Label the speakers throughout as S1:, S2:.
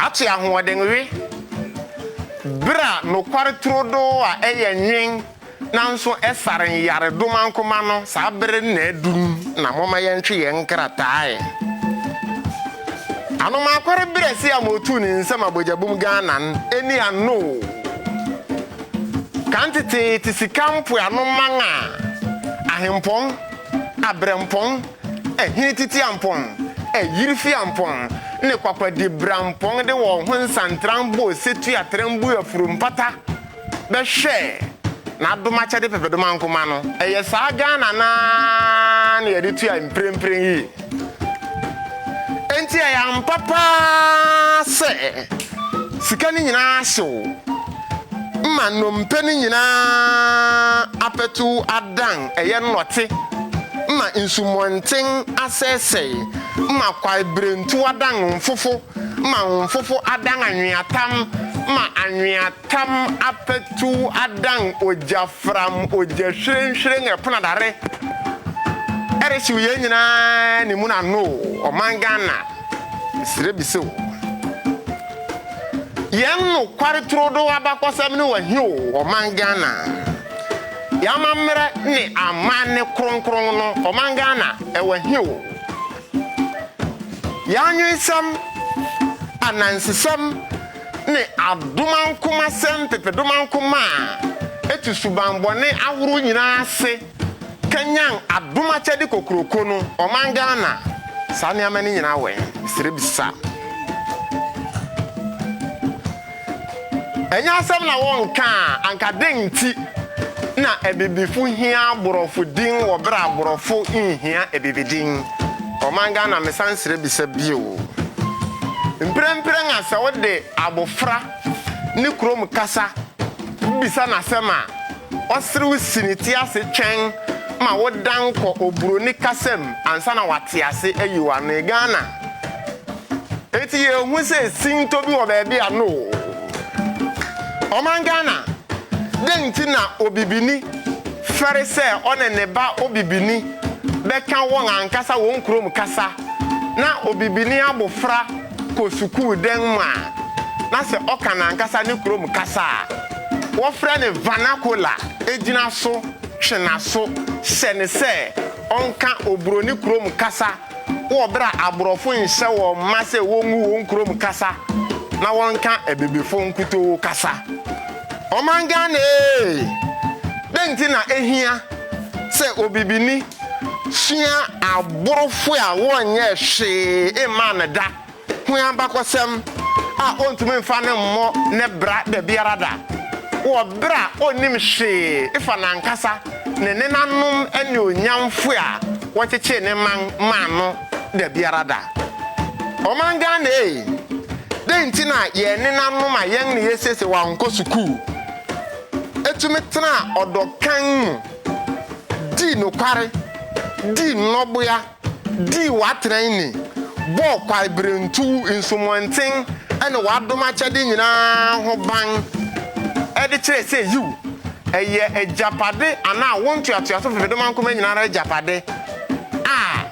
S1: Ate ahoɔden we bere a nokware turodoo a ɛyɛ nwen nanso ɛsare nyaredomankoma no saa bere no na adu no na momma yɛntwe yɛn nkratae ano ma Akware Berɛse a ma otuu ne nsam Abogyabum Ghana no ani ano o. Kan tetee te sika mpoano man a ahempɔn, abrɛmpɔn, Ɛhene Titiampɔn, Ayirifiampɔn, ne Kwakwadibrampɔn de wɔn ho nsantran bɔɔ Setu Atrɛmbu afuru mpata bɛhwɛɛ n'adomakyɛde Pɛpɛdomankomma no. Ɛyɛ saa Ghana no ara na yɛde tua mprempren yi. Enti ɛyɛ ampa paa sɛ sika no nyinaa hyew. ma nnompe no nyina ara abɛtow adan ɛyɛ nnɔte, ma nsumɔnten asɛesɛe, ma kwaebirentuw adan mfofo, ma mfofo adan anweatam, ma anweatam abɛtow adan ogyafram, ogyahwirenhwiren, ɛpono adare. Ɛrehyew yɛn nyina ara ne mu na no o, ɔman Ghana, mesrɛ bisa o. Yɛn nokware turodoo abakɔsɛm ne wahia o ɔman Ghana. Yɛn amammerɛ ne amanne kronkron no ɔman Ghana wahia o. Yɛn anwensɛm, anansesɛm ne adomankomasɛm pepedomanko maa ɛtu subammɔne ahorow nyinaa ase. kanyan adom akyɛde kokroko no ɔman Ghana saa nneɛma no nyinaa wɔ he? Mesrɛ bisa. Ɛnyɛ asɛm na wɔnka a anka dɛn nti na abibifo hia aborɔfo din wɔ berɛ a aborɔfo nhia abibidin? Ɔman Ghana mesan srɛ bisa bio. Mprɛmprɛ na sɛ wode abofra ne kurom kasa bisa no asɛm a, ɔserew si ne ti ase twɛn ma wodan kɔ oburoni kasa mu ansa na wate ase ayi w'ano. Ghana, enti yehu sɛ sintɔ bi wɔ baabi a no oo. Ɔman Ghana, dɛn nti na obibini fɛre sɛ ɔne ne ba obibini bɛka wɔn ankasa wɔn kurom kasa, na obibini abofra kɔ sukuu dɛn mu a, na sɛ ɔka n'ankasa ne kurom kasa a wɔfrɛ no vernacular gyina so twe n'aso hyɛ no sɛ ɔnka oburoni kurom kasa wɔ bere a aborɔfo nhyɛ wɔn mma sɛ wongu wɔn kurom kasa na wɔnka abibifo nkutoo kasa. Ɔman Ghana ee! Dɛn nti na ehia sɛ obibini sua aborɔfo a wɔnyɛɛ hwee mmaa no da ho abakɔsɛm a ontumi mfa no mmɔ ne bra da biara da, wɔ bere a onnim hwee fa n'ankasa ne nenanom anuonyamfo a wɔkyekyee ne man maa no da biara da. Ɔman Ghana ei, dɛn nti na yɛn nenanom a yɛn ne yɛasiesie wɔn ankɔ sukuu tumi tena ɔdɔ kann mu, dii nokware, dii nnɔboa, dii w'atena ni, bɔɔ kwaebirentuw, nsumɔnten ne w'adom akyɛde nyinaa ho ban de kyerɛe sɛ, yiw, ɛyɛ agyapade anaa wo ntoatoaso fifedomankoma nyinaa ara agyapade? a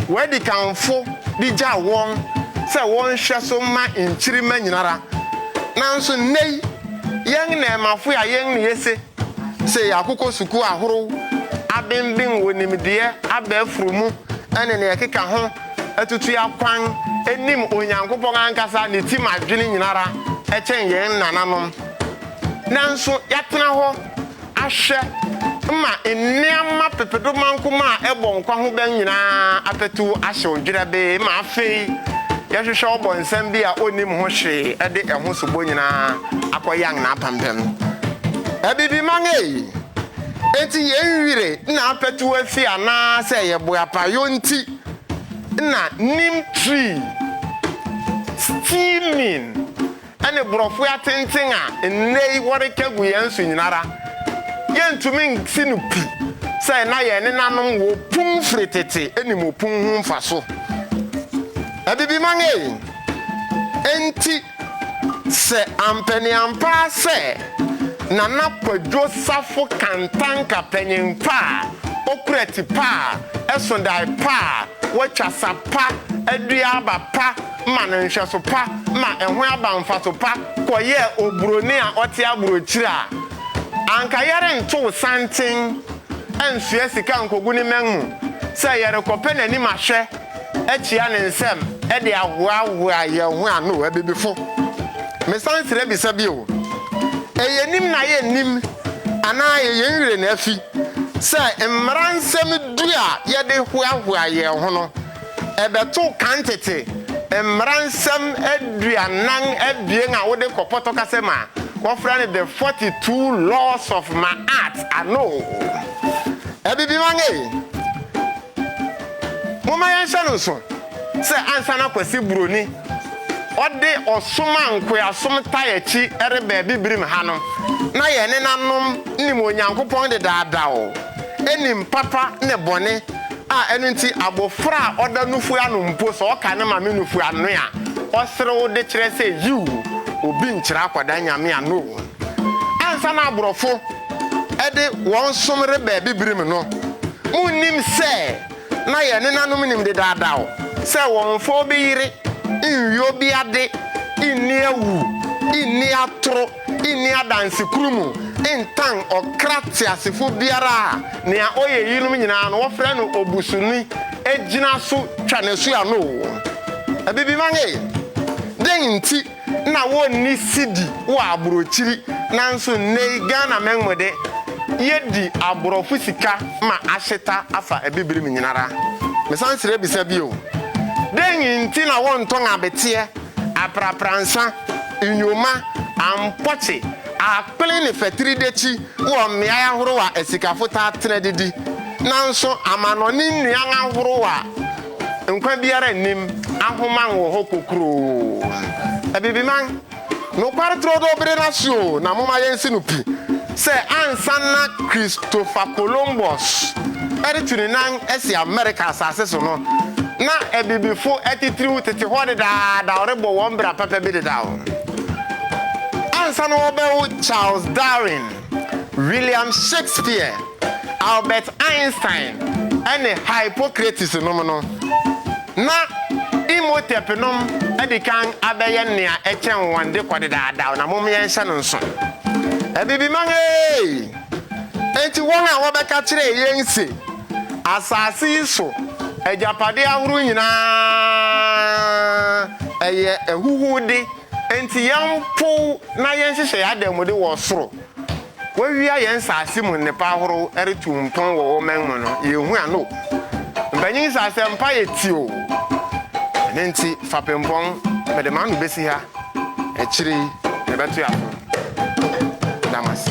S1: w'adikanfo de gyaw wɔn sɛ wɔnhwɛ so mma nkyirimma nyinara. Nanso nnɛyi yɛn nnɛɛmafo a yɛn ne yese sɛ yɛakokɔ sukuu ahorow, abenben wɔ nimdeɛ, aba afuru mu ne nea ɛkeka ho, atutu akwan, nim Onyankopɔn ankasa ne tim adwene nyinara kyɛn yɛn nananom. Nanso yɛatena hɔ ahwɛ ma nneɛma pepedomankum a ɛbɔ nkwa ho ban nyina ara apatuw ahyew dwerɛbee ma afei yɛhwehwɛ ɔbɔnsam bi a onnim ho hwee de ɛho sobo nyina ara akɔyan n'apampam no. Abibiman ei! Enti yɛn wire na apatuw afi anaa sɛ yɛ boapayɔ nti na neem tree steaming ne borɔfoe atenten a nnɛ yi wɔreka gu yɛn so nyinara, yentumi nsi no pi sɛ na yɛn nenanom wɔ opun firi tete nim opun ho mfaso. Abibiman ei! Enti, sɛ ampaniampaa sɛ Nana Kwadwo Safo Kantanka panyin pa a okura ti pa a ɛso dae pa a watwa sa pa adua aba pa ma no nhwɛso pa ma ɛho aba mfaso pa kɔyɛɛ oburoni a ɔte aburokyiri a, anka yɛrentow santen nsoa sika nkogu ne mmɛn mu sɛ yɛrekɔpɛ n'anim ahwɛ akyia ne nsam de ahoahoa yɛn ho ano. Abibifo, mesan srɛ bisa bio, ɛyɛ nim na yennim anaa ɛyɛ yɛn werɛ na afi sɛ mmara nsɛm du a yɛde hoahoa yɛn ho no Ɛbɛto kan tete Mmara Nsɛm aduanan abien a wode kɔ pɔtɔkasɛm a wɔfrɛ no The Forty Two Laws of Ma'at ano. Abibiman ei, momma yɛnhyɛ no nso sɛ ansa na Kwasi Buroni ɔde ɔsom a nkoasom tae akyi reba Abibirim ha no, na yɛn nenanom nim Onyankopɔn dedaadaw. nim papa ne bɔne a ɛno nti abofra a ɔda nufu ano mpo sɛ ɔka ne maame nufu ano a, ɔserew de kyerɛ sɛ yiw, obi nkyerɛ akwadaa Nyame ano o. Ansa na aborɔfo de wɔn som reba Abibirim no, munnim sɛ na yɛn nenanom nim dedaadaw sɛ wɔmfa obi yere, nwie obi ade, nni awu, nni atoro, nni adanse koro mu ntan ɔkra teasefo biara a nea ɔyɛ eyinom nyinaa no wɔfrɛ no obusuni gyina so twa n'asu ano o. Abibiman ee, dɛn nti na wonni sidi wɔ aburokyiri nanso nnɛyi Ghanamɛn mu de, yedi aborɔfo sika ma ahyeta afa abibiri mu nyinara? Mesan srɛ bisa bio, dɛn nti na wɔntɔn abeteɛ aprapransa, nnwuma, ampɔkye, akpene ne fatiridekyi wɔ mmeae ahorow a asikafo taa tena didi. Nanso amannɔne nnuan ahorow a nkwa biara nnim ahoman wɔ hɔ kokuroo. Abibiman, nokware turodoo bere no ase oo, na momma yensi no pi. sɛ ansa na Christopher Columbus retu ne nan asi Amerika asase so no, na abibifo atitiriw tete hɔ dedaada a wɔrebɔ wɔn bra papa bi dedaw. Ansa na wɔrebɛwo Charles Darwin, William Shakespeare, Albert Einstein, ne Hippocrates nom no, Ná Imhotepnom adi kan abɛyɛ nea ɛkyɛn wɔn de kɔ dedaadaw, na mom yɛnhyɛ no nsow. Abibiman ee! Enti wɔn a wɔbɛka kyerɛɛ yɛn se, 'Asase yi so agyapade ahorow nyinaa yɛ ahuhude, enti yɛmpow na yɛnhyehyɛ yɛn adanmude wɔ ɔsoro. Wɔawia yɛn nsase mu nnepa ahorow retu mpɔn wɔ wɔn man mu no, yenhu ano o. Mpanyin yi sɛ asɛmpa yɛ ti o. Ɛno nti, fapempɔn, mede m'ano besi ha, akyiri yi mebɛtoa so. Meda mo ase.